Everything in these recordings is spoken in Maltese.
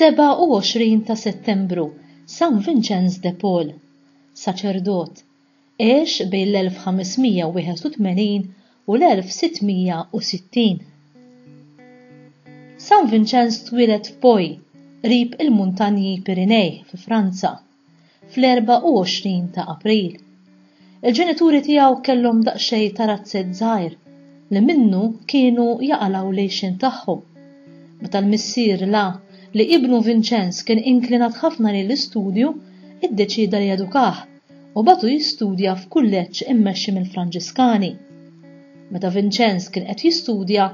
27 ta' Settembru, San Vinċenz de Paul, saċerdot, għex bejn l-1581 u l-1660. San Vinċenz twieled f'Poi, qrib il-Muntanji Pirinej fi Franza, fl-24 ta' April. Il-ġenituri tiegħu kellhom daqsxejn ta' razzett żgħir li minnu kienu jaqalgħu l-għixien tagħhom. Meta l-missier ra li ibnu Vinċenz kien inklinat ħafna lejn l-istudju, iddeċieda li jedukah. u bagħtu jistudja f'kulleġġ immexxi mill-Franġiskani. Meta Vinċenz kien qed jistudja,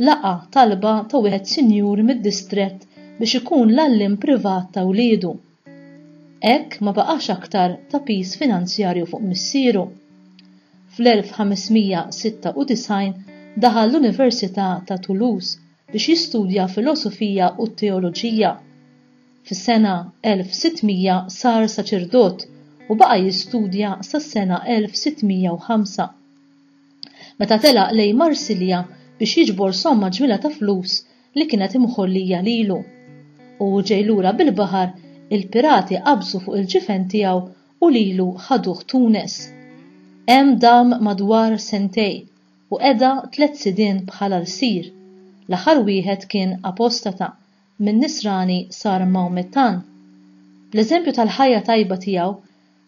laqa' talba ta' wieħed sinjur mid-distrett biex ikun l-għalliem privat ta' wliedu. Hekk ma baqax aktar ta' piż finanzjarju fuq missieru. Fl-1596 daħal l-Università ta' Toulouse biex jistudja filosofija u t-teoloġija. Fis-sena 1600 sar saċerdot u baqa' jistudja sas-sena 1605. Meta telaq lejn Marsilja biex jiġbor somma ġmiela ta' flus li kienet imħollija lilu. U hu ġej lura bil-baħar, il-pirati qabżu fuq il-ġifen tiegħu u lilu ħaduh Tunis. Hemm dam madwar sentej u qeda tliet sidien bħala lsir. L-aħħar wieħed kien apostata minn Nisrani sar Maomettan. Bl-eżempju tal-ħajja tajba tiegħu,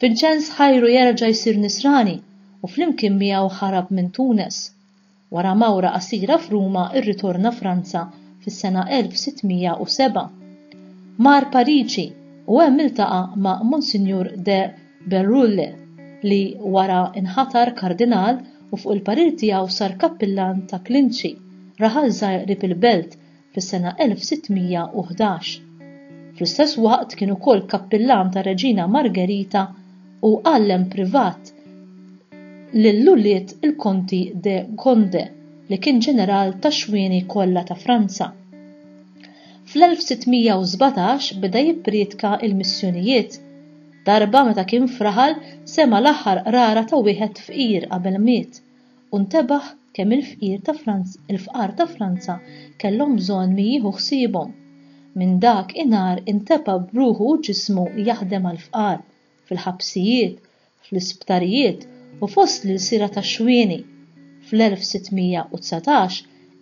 Vinċenz ħajru jerġa' jsir Nisrani u flimkien miegħu ħarab minn Tunes. Wara mawra qasira f'Ruma rritorna Franza fis-sena 1607. Mar Pariġi u hemm iltaqa' ma' Monsinjur de Bérulle li wara nħatar Kardinal u fuq il-parir tiegħu sar kappillan ta' klinċi, raħal żgħir qrib il-belt, fis-sena 1611. Fl-istess waqt kien ukoll kappillan tar-Reġina Margherita u għallem privat lil ulied il-Konti de Gonde, li kien ġeneral tax-xwieni kollha ta' Franza. Fl-1617 beda jipprietka l-missjonijiet. Darba meta kien f'raħal sema' l-aħħar qrara ta' wieħed fqir qabel miet. u ntebaħ kemm il-fqir ta' Franz, il-fqar ta' Franza kellhom bżonn min jieħu ħsiebhom. Minn dak inhar inteba' b'ruħu u ġismu jaħdem għall-fqar, fil-ħabsijiet, fl-isptarijiet u fost l-ilsiera tax-xwieni. Fl-1619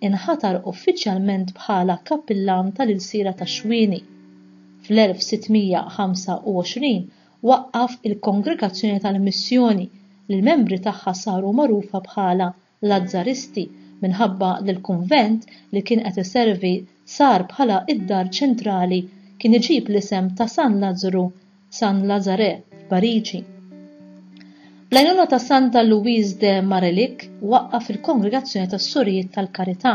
inħatar uffiċjalment bħala Kappillan tal-Ilsiera tax-Xwieni. Fl-1625 waqqaf il-Kongregazzjoni tal-Missjoni li l-membri tagħha saru magħrufa bħala l-Azzaristi minħabba li l-kunvent li kien qed iservi sar bħala d-dar ċentrali kien iġib l-isem ta' San Lazzru, San Lazare, f'Pariġi. Bl-għajnuna ta' Santa Louise de Marellique waqqaf il-Kongregazzjoni tas-Sorijiet tal-Karità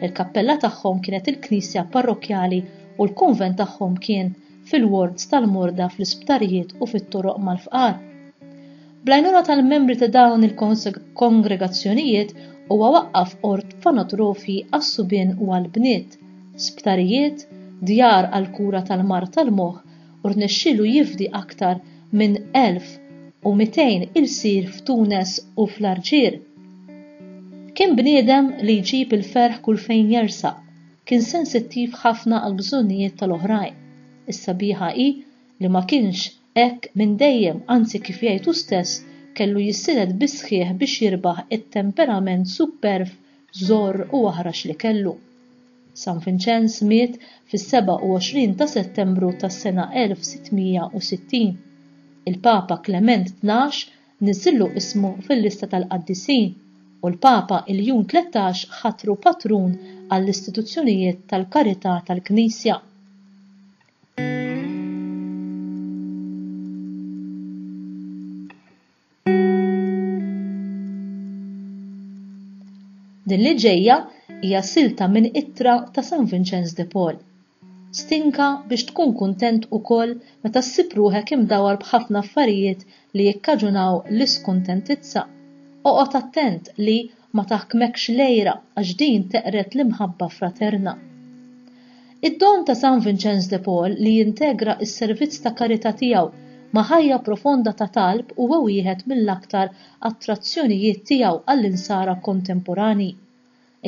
Il-kappella tagħhom kienet il-knisja parrokkjali u l-kunvent tagħhom kien fil-wards tal-morda fl-isptarijiet u fit-toroq mal-fqar. Bl-għajnuna tal-membri ta' dawn il-kongregazzjonijiet huwa waqqaf orfanotrofi għas-subien u għall-bniet, sptarijiet, djar għall-kura tal-mard tal-moħħ u rnexxielu jifdi aktar minn 1,200 ilsir f'Tunes u fl-Arġier. Kien bniedem li jġib il-ferħ kull fejn jersaq, kien sensittiv ħafna għall-bżonnijiet tal-oħrajn. Is-sabiħa hi li ma kienx hekk minn dejjem, anzi kif jgħid hu stess kellu jissielet bis-sħiħ biex jirbaħ it-temperament supperv, żorr u aħrax li kellu. San Vinċenz miet fis-27 ta' Settembru tas-sena 1660. Il-Papa Klement Tnax niżżillu ismu fil-lista tal-qaddisin, u l-Papa Iljun Tlettax ħatru patrun għall-istituzzjonijiet tal-karità tal-Knisja. Din li ġejja hija silta minn ittra ta' San Vinċenz de Paul. Stinka biex tkun kuntent ukoll meta ssib ruħek imdawwar b'ħafna affarijiet li jikkaġunaw l-iskuntentizza. Oqgħod attent li, Ma taħkmekx l-għira għax din teqred l-imħabba fraterna. Id-don ta' San Vinċenż de Paul li jintegra s-servizz ta' karità tiegħu ma' ħajja profonda ta' talb huwa wieħed mill-aktar attrazzjonijiet tiegħu għall-insara kontemporanji.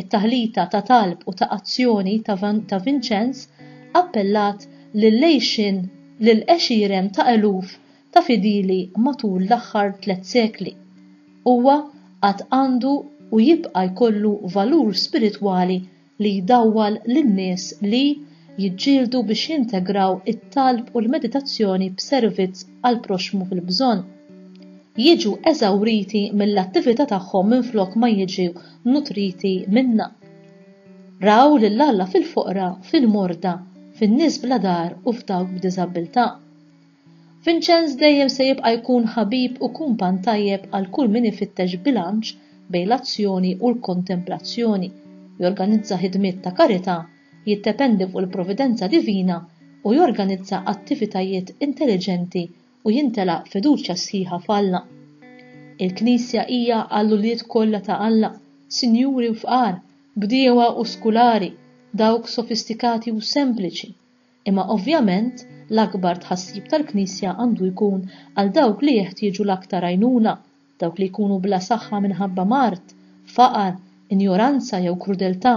It-taħlita ta' talb u ta' azzjoni ta' Vinċenż appellat lil għexieren ta' eluf ta' fidili matul l-aħħar tliet sekli. Huwa għad għandu u jibqa' jkollu valur spiritwali li jdawwal lin-nies li jiġġieldu biex jintegraw it-talb u l-meditazzjoni b'servizz għall-proxxmu fil-bżonn. Jiġu eżawriti mill-attività tagħhom minflok ma jiġu nutriti minnha. Raw lil Alla fil-foqra, fil-morda, fin-nies bla dar u f'dawk b'diżabbiltà. Vinċenz dejjem se jibqa' jkun ħabib u kumpann tajjeb għal kull min ifittex bilanċ bejn l-azzjoni u l-kontemplazzjoni, jorganizza ħidmiet ta' karità, jiddependi fuq il-providenza divina, u jorganizza attivitajiet intelliġenti u jimtela fiduċja sħiħa f'Alla. Il-Knisja hija għall-ulied kollha ta' Alla, sinjuri u fqar, bdiewa u skulari, dawk sofistikati u sempliċi, Imma ovvjament, l-akbar tħassib tal-Knisja għandu jkun għal dawk li jeħtieġu l-aktar għajnuna, dawk li jkunu bla saħħa minħabba mard, faqar, injoranza jew krudeltà.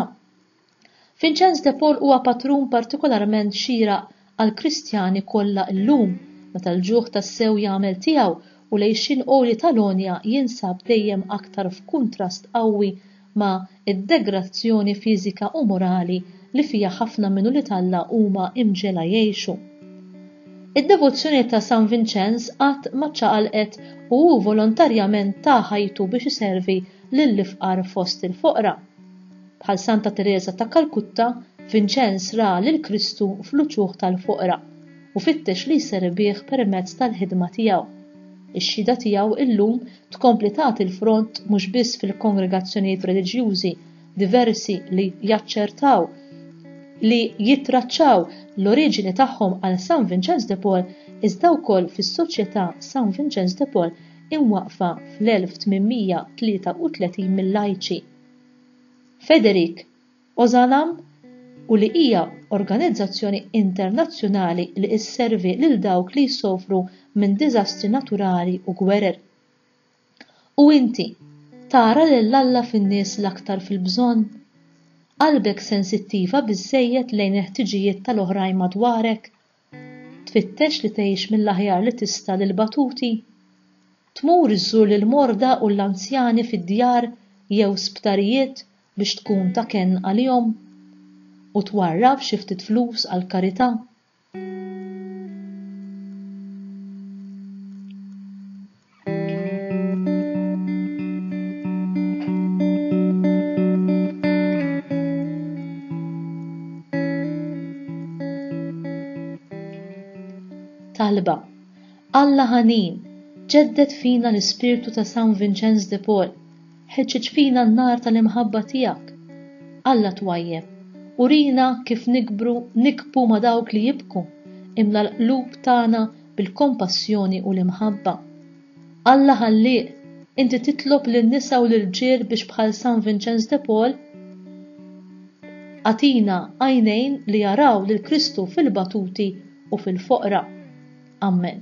Vinċenz de Paul huwa patrun partikolarment xieraq għall-Kristjani kollha llum, meta l-ġuħ tassew jagħmel tiegħu u l-għixien għoli tal-għonja jinsab dejjem aktar f'kuntrast qawwi ma' id-degrazzjoni fiżika u morali li fiha ħafna minn ulied Alla huma imġegħla jgħixu. Id-devozzjoni ta' San Vinċenż qatt ma ċċaqalqet u hu volontarjament ta ħajtu biex iservi lill-ifqar fost il-foqra. Bħal Santa Tereża ta' Kalkutta, Vinċenż ra lil Kristu fl-uċuħ tal-foqra u fittex li jservih permezz tal-ħidma tiegħu. Ix-xhieda tiegħu llum tkompli tagħti l-front mhux biss fil-kongregazzjonijiet reliġjużi diversi li jaċċertaw li jittraċċaw l-oriġini tagħhom għal San Vinċenz de Paul iżda wkoll fis-Soċjetà San Vinċenz de Paul imwaqqfa fl-1833 mill-lajċi. Federic Ozalam, u li hija organizzazzjoni internazzjonali li isservi lil dawk li jsofru minn diżastri naturali u gwerer. U inti, tara lil Alla fin-nies l-aktar fil-bżonn? Qalbek sensittiva biżżejjed lejn il-ħtiġijiet tal-oħrajn madwarek? Tfittex li tgħix mill-aħjar li tista' lill-batuti? Tmur iżżur lill-morda u l-anzjani fid-djar jew sptarijiet biex tkun ta' kenn għalihom? U twarrab xi ftit flus għall-karità? talba. Alla ħanin, ġeddet fina l-ispirtu ta' San Vincenz de Paul, ħeġġeġ fina n-nar tal-imħabba tiegħek. Alla twajjem, urina kif nikbru nikbu ma' dawk li jibku, imla l-qlub tagħna bil-kompassjoni u l-imħabba. Alla Ħallieq, inti titlob lin-nisa u l-irġiel biex bħal San Vinċenz de Paul agħtina għajnejn li jaraw lil Kristu fil-batuti u fil-foqra. Ammen.